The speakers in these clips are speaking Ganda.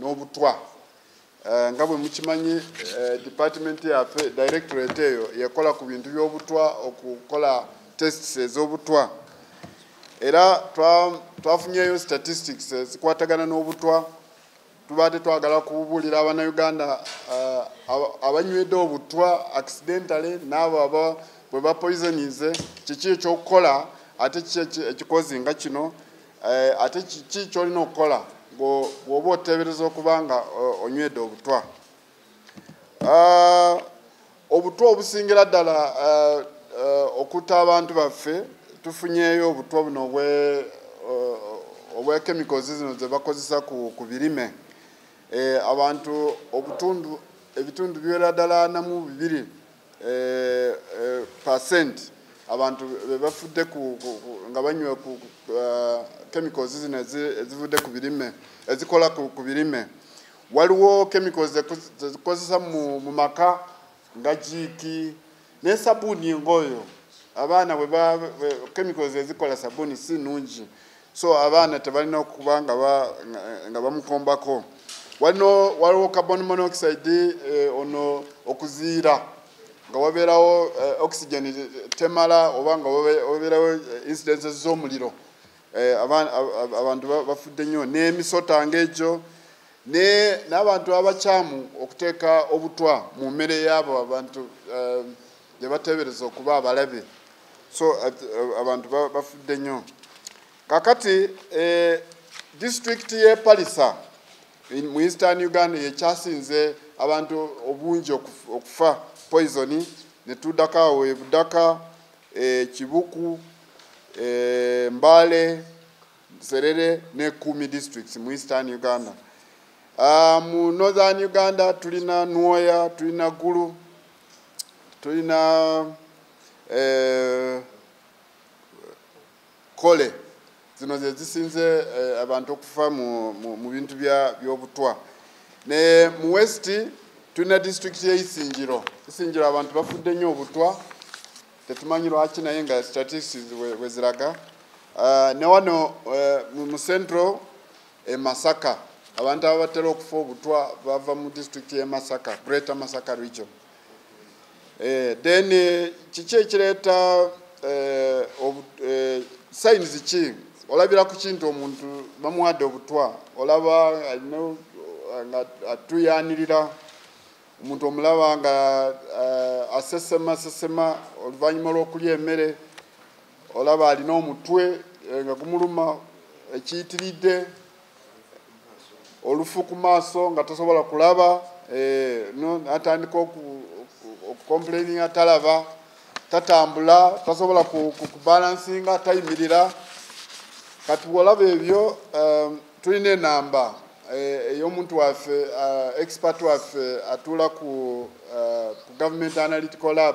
n'obutwa eh, nga bwe mukimanyi eh, department yaffe directorate eyo yekola ku bintu by'obutwa okukola tests ez'obutwa era twafunyeyo statistics ezikwatagana n'obutwa tuba tetwagala kubuulira abanauganda eh, abanywedde obutwa accidentally n'abo aba bwe bapoisonize kiki ekyokukola ate kiki ekikozi nga kino Eh, ate kiki kyolina okukola bwoba otebereza okuba nga eh, onywedde obutwa ah, obutwa obusingira ddala eh, okutta abantu baffe tufunyeyo obutwa buno obwekemicals zino zebakozesa ku birime abantu obutundu ebitundu biwera ddala namu bibiri eh, eh, percent abantu bebafudde nga banywa eh, chemicals zino ezivudde ku birime ezikola ku birime waliwo chemicals zezikozesa mu maka nga jiiki naye sabuuni ngaoyo abaana chemicals ezikola sabuuni si nungi so abaana tebalina okuba nga bamukombako walino waliwo carbon monoxide eh, ono okuziira nga wabeerawo eh, oxygen temala oba nga wabeerawo eh, incidences z'omuliro eh, abantu bafudde nnyo n'emisota ng'egyo n'abantu abakyamu okuteeka obutwa mu mmere yaabo abantu eh, gye bateebereza okuba abalabe so eh, eh, abantu bafudde nnyo kakati eh, disitulikiti y'e palisa mu eastern uganda yekyasinze abantu obungi okufa poisoni netuddako awo ebudaka kibuku mbale serere ne kumi districts mu eastern uganda ah, mu northern uganda tulina nwoya tulina gulu tulina eh, kole zino zezisinze eh, abantu okufa mu bintu byobutwa ne mu west tulina disitulikiti yeisinjiro isinjiro abantu bafudde nnyo obutwa tetumanyi lwaki naye nga statistics weziraga uh, ne wano uh, mu central e Masaka abantu ababatera okufa obutwa bava mu district ye Masaka Greater Masaka region eh, then eh, kiki ekireeta eh, eh, signs ki olabira ku kintu omuntu bamuwadde obutwa olaba atuyanirira omuntu omulaba nga eh, asesema sesema oluvannyuma lw'okulya emmere olaba alina omutwe eh, nga gumuluma ekiyitiridde olufu ku maaso nga tasobola kulaba eh, atandika okukomplaininga talaba tatambula tasobola kubalansinga tayimirira kati bwolaba ebyo eh, tulina enamba Eh, ey'omuntu waffe eh, expert waffe atuula ku eh, government analytical lab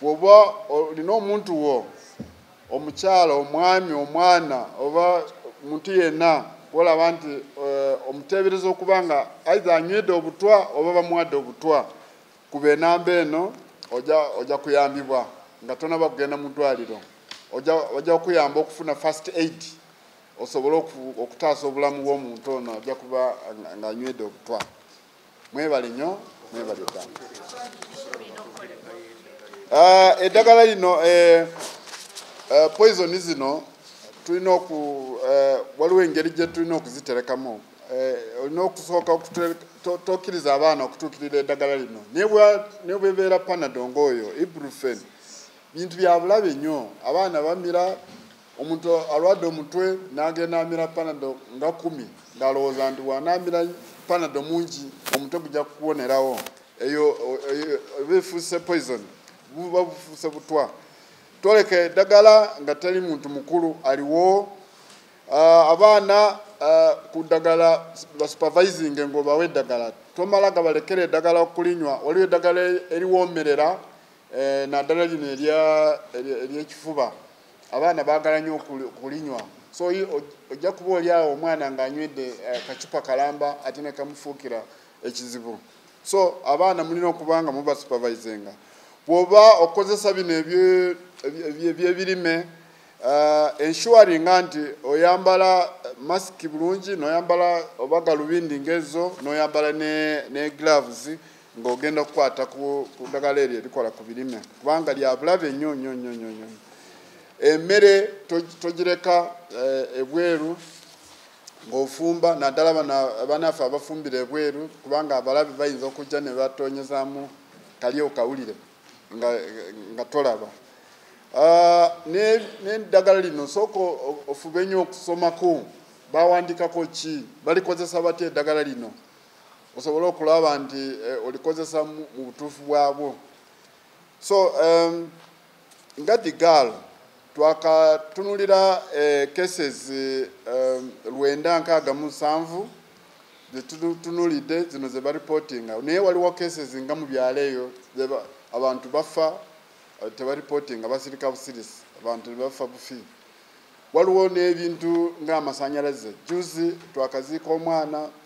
bwoba olina omuntu wo omukyala omwami omwana oba muntu yenna olaba nti eh, omuteebereza okuba nga aitha anywedde obutwa oba bamuwadde obutwa kuba enamba eno ojja kuyambibwa nga tonaba kugenda mu ddwaliro ojja kuyamba okufuna first aid osobole okutaasa obulamu bw'omuntu ono ajja kuba ng'anywedde obutwa mwebale nyo mwebale ddala ah, eddagala lino eh, eh, poison zino tulina oku eh, waliwo engeri gye tulina okuziterekamu olina okusooka tokiriza abaana okutuukirira eddagala lino nebwebeera panadonga oyo ibrufen bintu byabulabe nnyo abaana bamira omuntu alwadde omutwe n'agenda amira panado nga kumi ng'alowooza nti wanaamira panado mungi omutwe gujja kukuwonerawo eyo oba efuuse poison buba bufuuse butwa twoleka eddagala nga teri muntu mukulu aliwo ah, abaana ah, ku ddagala basupervisinge ng'obawa eddagala tomala gabalekera eddagala okulinywa waliwo eddagala eriwoomerera eh, naddala lino eryekifuba abaana baagala nnyo okulinywa so ojja kuba oli awo omwana ng'anywedde eh, kacupa kalamba ate ne kamufuukira ekizibu so abaana mulina okuba nga muba supervisinga bw'oba okozesa bino ebyebirime eh, ensuaringa nti oyambala masiki bulungi noyambala oba galubindi ngaezo noyambala ne gloves ng'ogenda okukwata ku ddagala eryo erikola ku birime kubanga lyabulabe nnyo nnyo nnyo nnyo nnyo emmere togireka eh, ebweru ng'ofumba naddala banaffe abafumbira ebweru kubanga abalabe bayinza okujja ne batonyezaamu kali okawulire nga tolaba ah, n'eddagala lino sooka ofube nnyo okusomako bawandikako ki balikozesa batya eddagala lino osobole okulaba nti eh, olikozesa mu butuufu bwabwo so um, nga the girl twakatunulira eh, cases um, lwenda nkaaga mu nsanvu zetutunulidde zino ze baripotinga naye waliwo cases nga mu byalo eyo abantu bafa eh, tebaripotinga basirika busirisi abantu nebafa bufi waliwo n'ebintu ng'amasanyalaze juzi twakaziika omwana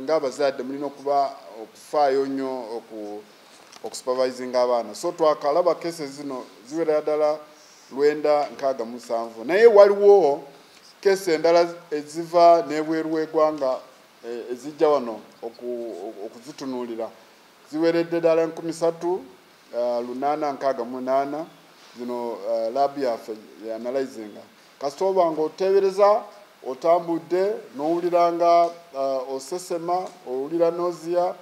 ng'abazadde mulina okuba okufaayo nnyo okusupervisinga abaana so twakalaba kese zino ziwerera ddala lwenda nkaaga musanvu naye waliwo kese endala eziva n'ebweru w'egwanga eh, ezijja wano okuzitunuulira ziweredde ddala enkumi satu eh, lunaana nkaaga munaana zino eh, labi yaffe yanalyzinga kasita oba nga oteebereza otambudde n'owulira nga uh, osesema owulira nozia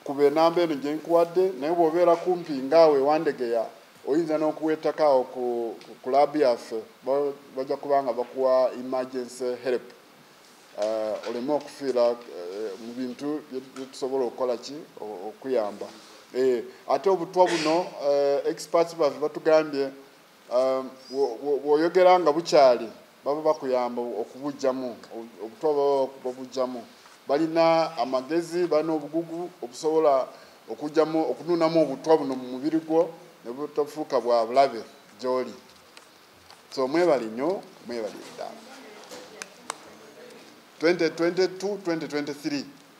kuba enamba eno gye nkuwadde naye bw'obeera kumpi ngaawe wandegeya oyinza n'okuwa ettaka ku kulaabu yaffe bajja kuba nga bakuwa emergency help uh, oleme okufiira uh, mu bintu byetusobola okukola ki okuyamba eh, ate obutwa buno experts baffe batugambye Um, bw'oyogera nga bukyali baba bakuyamba okubujjamu obutwa baba babujjamu balina amagezi balina obugugu obusobola okujjamu okunuunamu obutwa buno mu mubiri gwo ne butafuuka bwa bulabe gy'oli so mwebali nnyo mwebali eddaala 2022 2023